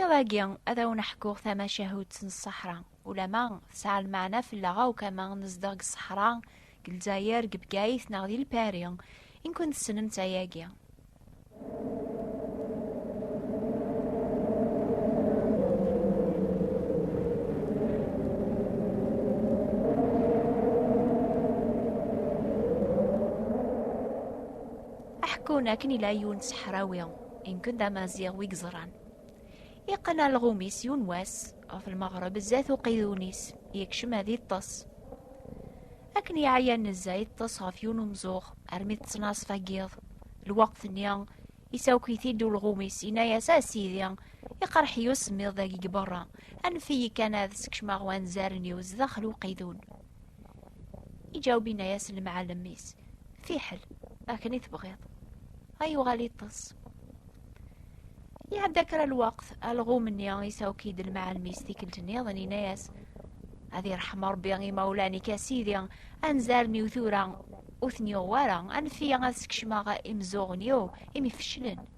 Iḍ-agi, ad awen-ḥkuɣ tamacahut n ṣṣeḥra. Ulamma tesɛa lmeɛna fell-aɣ akk ama nezdeɣ deg ṣṣeḥra, deg Lezzayer, deg Bgayet neɣ di Lpari, i nkun tessnem-tt ayagi. Aḥekkun akken ila yiwen n ṣṣeḥrawi. Inken d amaziɣ wi yeẓran. Iqqen alɣum-is yiwen wass, ɣef lmeɣreb zdat uqidun-is, yekcem ad iṭṭes. Akken yeɛya nezza iṭṭes ɣef yiwen umzuɣ, armi tettnaṣfa n yiḍ. Lweqt-nni, isawek-it-id ulɣum-is, yenna-as, A Sidi, iqerreḥ-iyi usemmiḍ dagi deg berra, anef-iyi kan ad skecmeɣ wanzaren-iw zdaxel uqidun. Iǧawbina-yas lemɛalem-is, fiḥel, akken i tebɣiḍ. Ay uɣal iṭṭes. Iɛedda kra lweqt, alɣum-nni isawk-id lemɛalem-is tikkelt-nniḍen, ina-yas, ad irḥem Rebbi imawlan-ik a Sidi, anzaren-iw tura ur ten-yuɣ wara, anef-iyi ad skecmeɣ imeẓẓuɣen-iw imi feclen.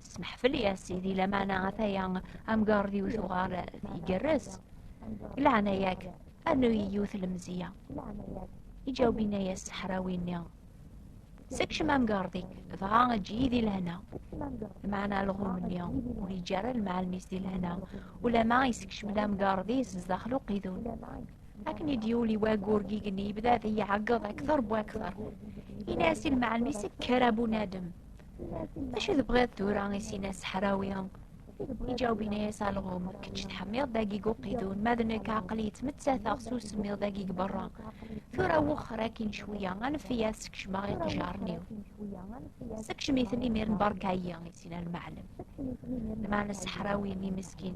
Smeḥfel ya sidi lamana ataya amgar d yiwet uɣar igerrez. Laɛnaya-k anu yiwet lemziya. Iǧawbina ya seḥrawi-nni. Sekcem amgardi, dɣa eǧǧ-iyi di lehna. Meɛna alɣum-nni ur yeǧǧi ara lmeɛlem-is di lehna, ulama isekcem lamgardi-s sdaxel uqidun. Akken i d-yuli wagur gig-nni yebda ad iyi-ɛeggeḍ akter bu akter. Ini-as i lmeɛlem-is kker a bunadem, Acu tebɣiḍ tura i sina seḥrawi? Iǧaweb ini-as alɣum, kečč teḥmiḍ dagi guqidun, ma d nekk aqli yettmettateɣ s usemmiḍ dagi g berra. Tura wexxer akin cwiya, anef-iyi ad sekcmeɣ iqejaren-iw. Sekcem-iten imir n berka-yi, i sina lmaɛlem. Lmaɛna seḥrawi-nni miskin,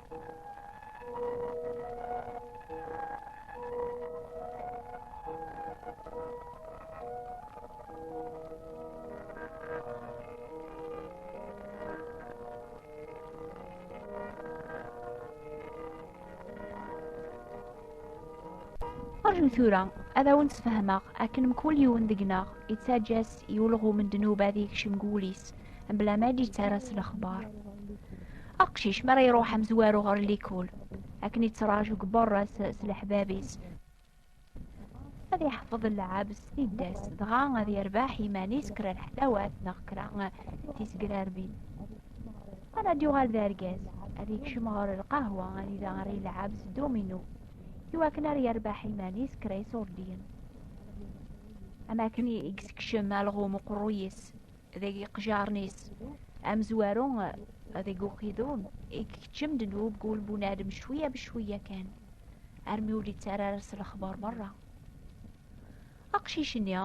Ṛju tura ad awen-sfehmeɣ akken mkul yiwen deg-neɣ yettaǧǧa-s i ulɣem n ddnubat yekcem deg wul-is mebla ma d-yettara s lexbar. Aqcic mi ara iruḥ amezwaru ɣer likul akken yettraǧu deg berra s leḥbab-is ad yeḥfeḍ lɛab s tiddas dɣa ad yerbeḥ iman-is kra n ḥdawat neɣ kra tisgrarbin ara d-yuɣal d argaz ad yekcem ɣer lqahwa ad ida ɣer yelɛab s domino iwakken ar yerbeḥ iman-is kra iṣurdiyen am akken i yessekcem alɣum uqerruy-is deg iqjaren-is amezwaru deg uqidum ikeččem-d nnub gul bunadem cwiya bcwiya kan armi ur yettara ara s lexbar merra aqcic-nni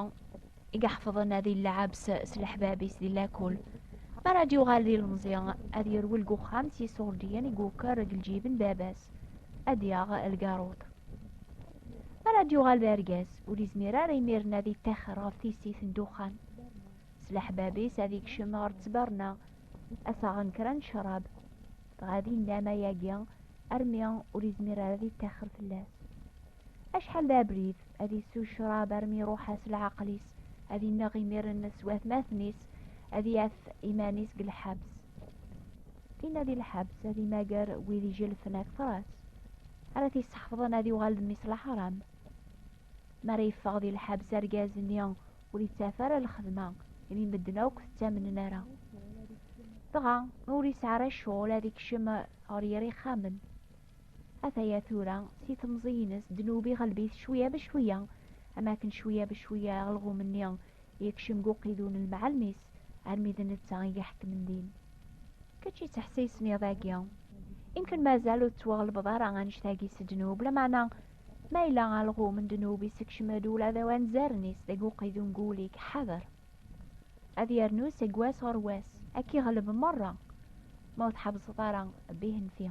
i iḥefḍen ad yellɛabs s leḥbab-is di lakul mi ara d-yuɣal di lemẓi ad yerwel deg uxxam s yiṣurdiyen i yuker deg lǧib n baba-s ad yaɣ lgaruḍ ara d-yuɣal d argaz ur izmir ara imiren ad ittaxer ɣef tissit n duxxan s leḥbab-is ad ikcem ɣer ttberna ad taɣen kra n ccrab dɣa ad innam ayagi armi ur izmir ara ad ittaxer fell-as acḥal d abrid ad issu ccrab armi iruḥ-as leɛqel-is ad inneɣ imiren s watmaten-is ad yaf iman-is deg lḥabs tinna di lḥabs ad imager wid ijelfen akter-as ara t-yesseḥfḍen ad yuɣal d mmi-s laḥram. Mi ara yeffeɣ di lḥebs argaz-nni ur yettaf ara lxedma imi medden akk ttamnen ara. Dɣa ur yesɛi ara ccɣel ad ikcem ɣer yir ixxamen. Ataya tura si temẓi-ines ddnub iɣelb-it cwiya becwiya am akken cwiya becwiya aɣelɣum-nni Yekcem Guqidu n lmeɛalmis armi d netta i iḥekmen din. Kečč yettḥessisen iḍ-agi. Imken mazal ur tettwaɣelbeḍ ara annect-agi s ddnub, lameɛna ma yella alɣum n ddnub yessekcem-d ula d awanzaren-is deg Guqidu n wul-ik, ḥader. Ad yernu seg wass ɣer wass, ad k-iɣleb merra ma ur tḥebbseḍ ara bihenfi.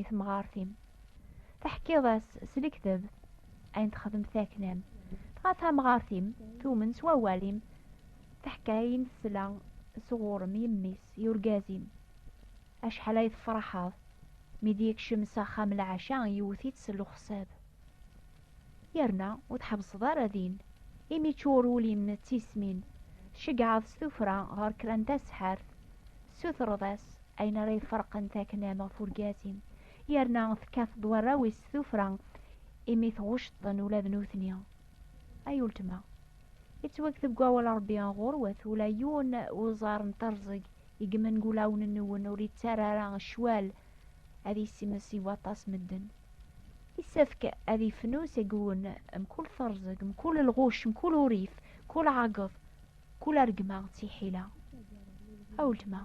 i temɣart-im. Teḥkiḍ-as s lekdeb ayen texdem taknam. Dɣa tamɣart-im tumen s wawal-im teḥka ayen tesla sɣur-m yemmi-s i urgaz-im. Acḥal ay tefraḥeḍ mi d-yekcem s axxam lɛaca yewwet-itt s lexsab. Yerna ur tḥebbseḍ ara din, imi ččur wul-im d tismin, tceggɛeḍ s tuffra ɣer kra n taseḥḥart, tessutreḍ-as ayen ara iferqen taknam ɣef urgaz-im, yerna tekkateḍ warraw-is s tuffra imi tɣucceḍ-ten ula d nutni. Ay uletma, yettwakteb deg wawal n Ṛebbi ɣur-wet, ula yiwen n uẓar n terẓeg i yemmen deg wulawen-nwen ur yettara ara ccwal ad yessimes i waṭas medden. Yessefk ad yefnu seg-wen mkul terẓeg, mkul lɣuc, mkul urif, mkul ɛageḍ, mkul argma d tiḥila. A weltma,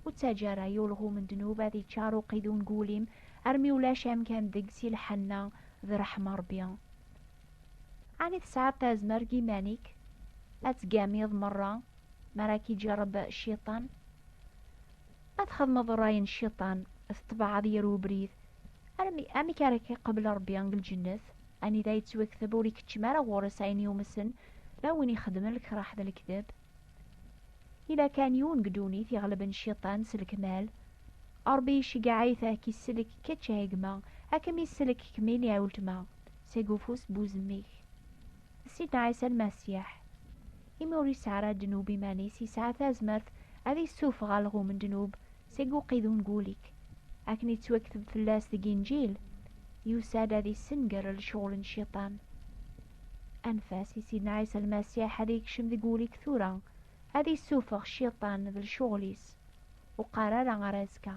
ur ttaǧǧa ara yulɣum n ddnub ad yeččar uqidun n wul-im armi ulac amkan deg-s i lḥenna d ṛṛeḥma Ṛebbi. Ɛni tesɛiḍ tazmert deg iman-ik ad tgamiḍ meṛṛa mi ara k-iǧerreb Cciṭan? ad txedmeḍ ṛṛay n cciṭan teṭṭbaɛeḍ yir ubrid armi amek ara k-iqabel ṛebbi deg lǧennet anida yettwakteb ur ikeččem ara ɣur-s ayen yumsen ma win ixedmen lkraḥ d lekdeb ila kan yiwen deg ddunit iɣelben cciṭan s lekmal ṛebbi iceggeɛ-it ad k-isellek kečč a gma ad kem-isellek kemmini a weltma seg ufus n wuzemmik Sidna Ɛisa Lmasiḥ imi ur yesɛi ara ddnub iman-is, yesɛa tazmert ad issuffeɣ alɣum n ddnub seg uqidun n wul-ik. Akken i ttwakteb fell-as deg Inǧil, yusa-d ad issenger lecɣel n cciṭan. Anef-as i Sidna Ɛisa Lmasiḥ ad yekcem deg wul-ik tura, ad issuffeɣ cciṭan d lecɣel-is. Ur qqar ara ar azekka.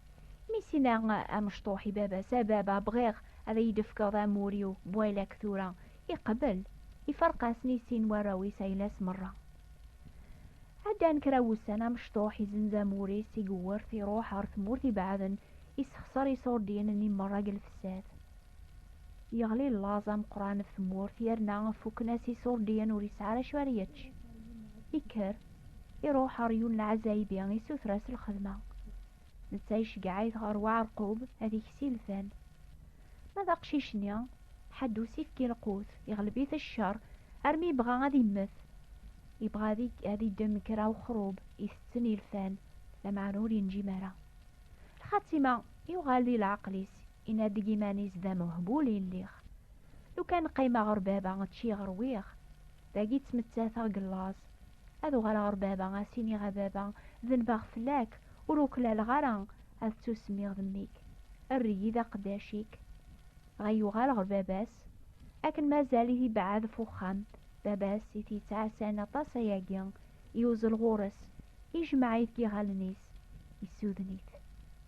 Mi s-inna amecṭuḥ i baba-s, a baba, bɣiɣ ad iyi-d-tefkeḍ amur-iw n waylak tura. Iqebbel. Iferq-asen i sin warraw-is ayla-s merra. Ɛeddan kra wussan, amecṭuḥ izenz amur-is i yewwert, iruḥ ɣer tmurt ibeɛden, issexṣer iṣurdiyen-nni merra deg lfessat. Yeɣli llaẓ ameqqran ɣef tmurt, yerna fukken-as iṣurdiyen ur yesɛi ara acu ara yečč. Yekker. Iruḥ ɣer yiwen n lɛazaybi, isuter-as lxedma. Netta iceggeɛ-it ɣer uɛerqub ad ikes ilfan. Ma d aqcic-nni, ḥedd ur s-ifki lqut, iɣleb-it cceṛ armi yebɣa ad immet. Yebɣa ad iddem kra uxrub itetten ilfan, lameɛna ur yenǧim ara. Lxatima, yuɣal di leɛqel-is, Yenna-d deg iman-is d amehbul i lliɣ. Lukan qqimeɣ ɣer baba ččiɣ rwiɣ. Dagi ttmettateɣ deg llaẓ. Ad uɣaleɣ ɣer baba ad s-iniɣ a baba denbeɣ fell-ak ur uklaleɣ ara ad ttusemmiɣ d mmi-k. Err-iyi d aqeddac-ik. Dɣa yuɣal ɣer baba-s. Akken mazal-it ibeɛɛed ɣef uxxam, baba-s i t-yettɛassan aṭas ayagi, yuzzel ɣur-s, ijmeɛ-it deg yiɣallen-is, yessuden-it.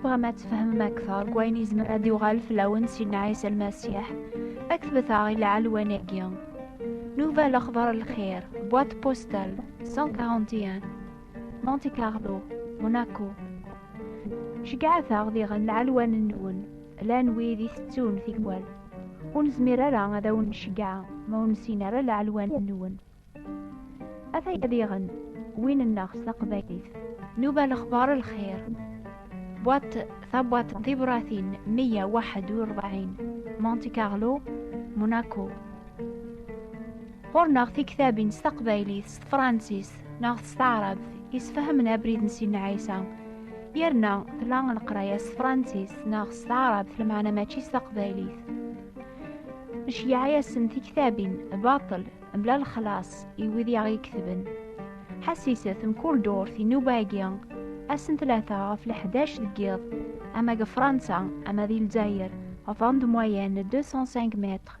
تبغام ad tefhmem akteṛ deg wayen yezmer ad yuɣal fell-awen Sidna Ɛisa Lmasiḥ, ad k-tbet-aɣ i lɛelwan-agi. Nuva lexbar lxir, boîte postale 141, Monte Carlo, Monaco. Ceyyɛet-aɣ diɣen lɛelwan-nwen, llan wid itettun tikwal. Ur nezmir ara ad awen nceggeɛ ma ur nessin ara laɛelwan-nwen. Ataya diɣen win-nneɣ s taqbaylit. Nuba lexbar lxir. Bwaṭ tabwaṭ n tibṛatin meyya waḥed u ṛebɛin, Monte Carlo, Monaco. Ɣur-neɣ tiktabin s taqbaylit, s tefṛansist, neɣ s taɛrabt yesfahamen abrid n Sidna Ɛisa yerna tla leqraya s tefransist neɣ s taɛrabt lmeɛna mačči s taqbaylit neceyyeɛ-asen tiktabin baṭel mebla lexlaṣ i wid i aɣ-iketben ḥassiset mkul durt inuba-agi ass n tlata ɣef leḥdac deg yiḍ ama deg Fransa ama di Lezzayer ɣef andemwayen 205 mètres